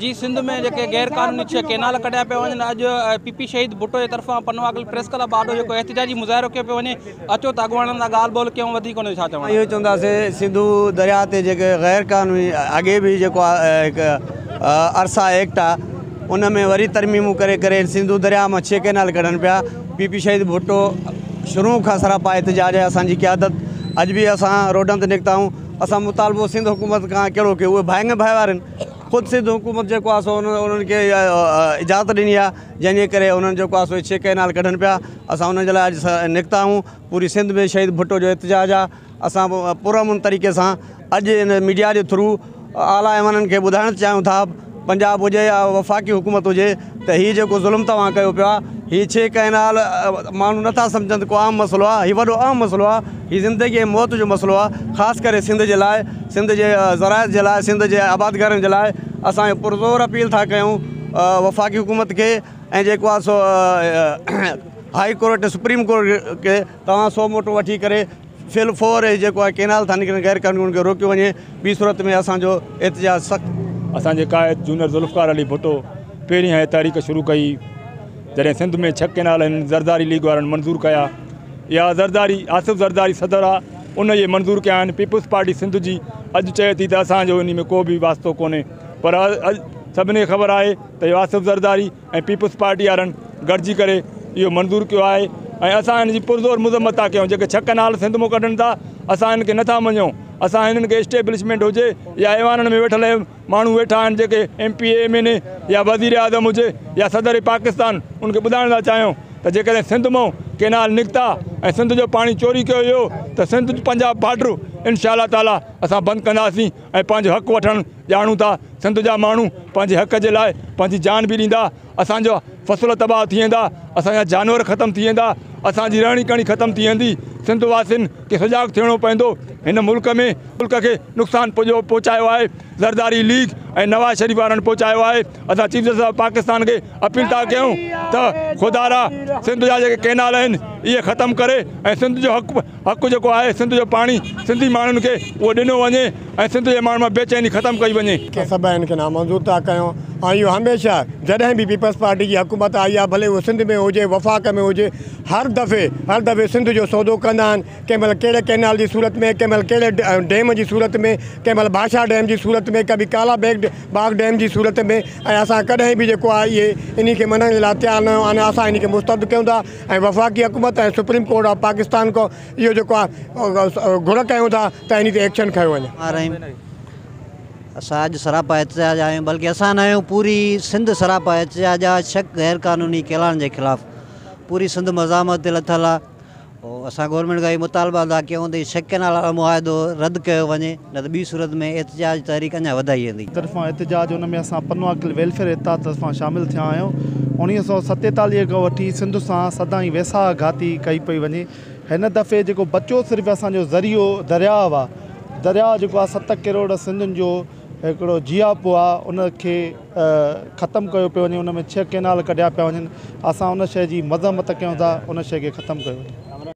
جي سنڌ ۾ جيڪي غير قانوني ڇهه ڪينال ڪڍيا پيا وڃن اڄ پي پي شهيد ڀٽو جي طرفان پنو اگل پريس ڪلب آڏو جيڪو احتجاجي مظاهرو ڪيو پيو وڃي اچو ته اڳواڻن سان ڳالهه ٻولهه ڪيون وڌيڪ ان جو ڇا چوڻ اهو چونداسي سنڌو درياء تي جيڪي غير قانوني اڳي به جيڪو هڪ ارسا ايڪٽ آ ان ۾ وري ترميمون ڪري ڪري سنڌو درياء مان ڇهه ڪينال ڪڍن پيا پي پي شهيد ڀٽو شروع کان سراپا احتجاج آهي اسان جي قيادت اڄ به اسان روڊن تي نڪتا آهيون اسان مطالبو سنڌ حڪومت کان ڪهڙو ڪيو اهي ڀائنگ ڀائي وارن خود سنڌ حڪومت جيڪو آهي سو انهن کي اجازت ڏني آهي جنهن جي ڪري انهن جيڪو آهي سو ڇهه ڪئنال ڪڍن پيا اسان انهن جي لاء اڄ نڪتا آهيون پوري سنڌ ۾ شهيد ڀٽو جو احتجاج آهي اسان پرامن طريقي سان اڄ ان ميڊيا جي ٿرو اعليٰ ايوانن کي ٻڌائڻ چاهيون ٿا پنجاب هجي يا وفاقي حڪومت هجي ته هي جيڪو ظلم توهان ڪيو پيا هي ڇهه ڪئنال ماڻهو نٿا سمجهن ته ڪو عام مسئلو آهي هي وڏو اهم مسئلو آهي هي زندگي ۽ موت جو مسئلو آهي خاص ڪري سنڌ جي لاء سنڌ جي زراعت جي لاء سنڌ جي آبادگارن جي لاء اسان پر زور اپيل ٿا ڪيون وفاقي حڪومت کي ۽ جيڪو آهي سو هائي ڪورٽ سپريم ڪورٽ کي توهان سو موٽو وٺي ڪري فل فور هي جيڪو آهي ڪينال ٿا نڪرن غير قانوني ان کي روڪيو وڃي ٻي صورت ۾ اسان جو احتجاج سخت. اسان جي قائد جونئر ذوالفقار علي ڀٽو پهرين هيء تحريڪ شروع ڪئي جڏهن سنڌ ۾ ڇهه ڪينال هن زرداري ليگ وارن منظور ڪيا اها زرداري آصف زرداري صدر آ ان ئي منظور ڪيا آهن پيپلز پارٽي سنڌ جي اڄ چئي ٿي ته اسان جو انهي ۾ ڪو به واسطو ڪونهي پر اڄ سڀني کي خبر آهي ته اهو آصف زرداري ۽ پيپلز پارٽي وارن گڏجي ڪري اهو منظور ڪيو آهي ۽ اسان هن جي پرزور مذمت ٿا ڪيون جيڪي ڇهه ڪئنال سنڌ مون ڪڍن ٿا اسان هن کي نٿا مڃون اسان هنن کي اسٽيبلشمينٽ هجي يا ايوانن ۾ ويٺل ماڻهو ويٺا آهن جيڪي M P M N A يا وزير اعظم هجي يا صدر پاڪستان ان کي ٻڌائڻ ٿا چاهيون ته جيڪڏهن سنڌ مون ڪئنال نڪتا ۽ سنڌ جو پاڻي چوري ڪيو ويو ته سنڌ پنجاب بارڊر انشاء الله تعاليٰ اسان بند ڪنداسين ۽ پنهنجو حق وٺڻ ڄاڻون ٿا سنڌ جا ماڻهو پنهنجي حق جي لاء پنهنجي جان به ڏيندا اسان جا فصل تباهه ٿي ويندا اسان جا جانور ختم ٿي ويندا اسان جي رهڻي ڪهڻي ختم ٿي ويندي سنڌ واسين کي سجاڳ ٿيڻو پوندو هن ملڪ ۾ ملڪ کي نقصان پڄو پهچايو آهي زرداري ليگ ۽ نواز شريف وارن پهچايو آهي اسان چيف جسٽس آف پاڪستان کي اپيل ٿا ڪيون ته خدارا سنڌ جا جيڪي ڪينال آهن اهي ختم ڪري ۽ سنڌ جو حق حق جيڪو آهي سنڌ جو پاڻي سنڌي ماڻهن کي اهو ڏنو وڃي ۽ سنڌ جي ماڻهن مان بي چيني ختم ڪئي وڃي. ڪي سبب هن کي نامنظور ٿا ڪيون ۽ اهو هميشه جڏهن به پيپلز پارٽي جي حڪومت آئي آهي ڀلي اهو سنڌ ۾ هجي وفاق ۾ هجي هر دفعي هر دفعي سنڌ جو سودو ڪندا آهن ڪنهن مهل ڪهڙي ڪينال جي صورت ۾ ڪنهن مهل ڪهڙي ڊيم جي صورت ۾ ڪنهن مهل ڀاشا ڊيم جي صورت ۾ ڪبي ڪالا بيگ باغ ڊيم جي صورت ۾ ۽ اسان ڪڏهن به جيڪو آهي اهي انهي کي مڃڻ جي لاء تيار نه آهيون آنا اسان انهي کي مسترد ڪيون ٿا. ۽ وفاقي حڪومت ۽ سپريم ڪورٽ آف پاڪستان کان اهو جيڪو آهي گهر ڪيون ٿا ته انهي تي ايڪشن کنيو وڃي. آر آهيون اسان اڄ سراپا احتجاج آهيون بلڪه اسان نه آهيون پوري سنڌ سراپا احتجاج آ شڪ غير قانوني ڪيلان جي خلاف پوري سنڌ مزاحمت تي لٿل آ اسان گورنمينٽ کان اهي مطالبا ٿا ڪيون ته شڪ ڪينال وارو معاهدو رد ڪيو وڃي. نه ته ٻي صورت ۾ احتجاج تحريڪ اڃا وڌائي ويندي. طرفان احتجاج ان ۾ اسان پنوا کل ويلفيئر اتحاد طرفان شامل ٿيا آهيون اڻويهه سؤ ستيتاليهه کان وٺي سنڌ سان سدائين ويساهه گهاتي ڪئي پئي وڃي هن دفعي جيڪو بچيو صرف اسان جو ذريعو درياء آ درياء جيڪو آ ست ڪروڙ سنڌين جو هڪڙو جياپو آ ان کي ختم ڪيو پيو وڃي ان ۾ ڇهه ڪينال ڪڍيا پيا وڃن اسان ان شئي جي مذمت ڪيون ٿا ان شئي کي ختم ڪيو وڃي.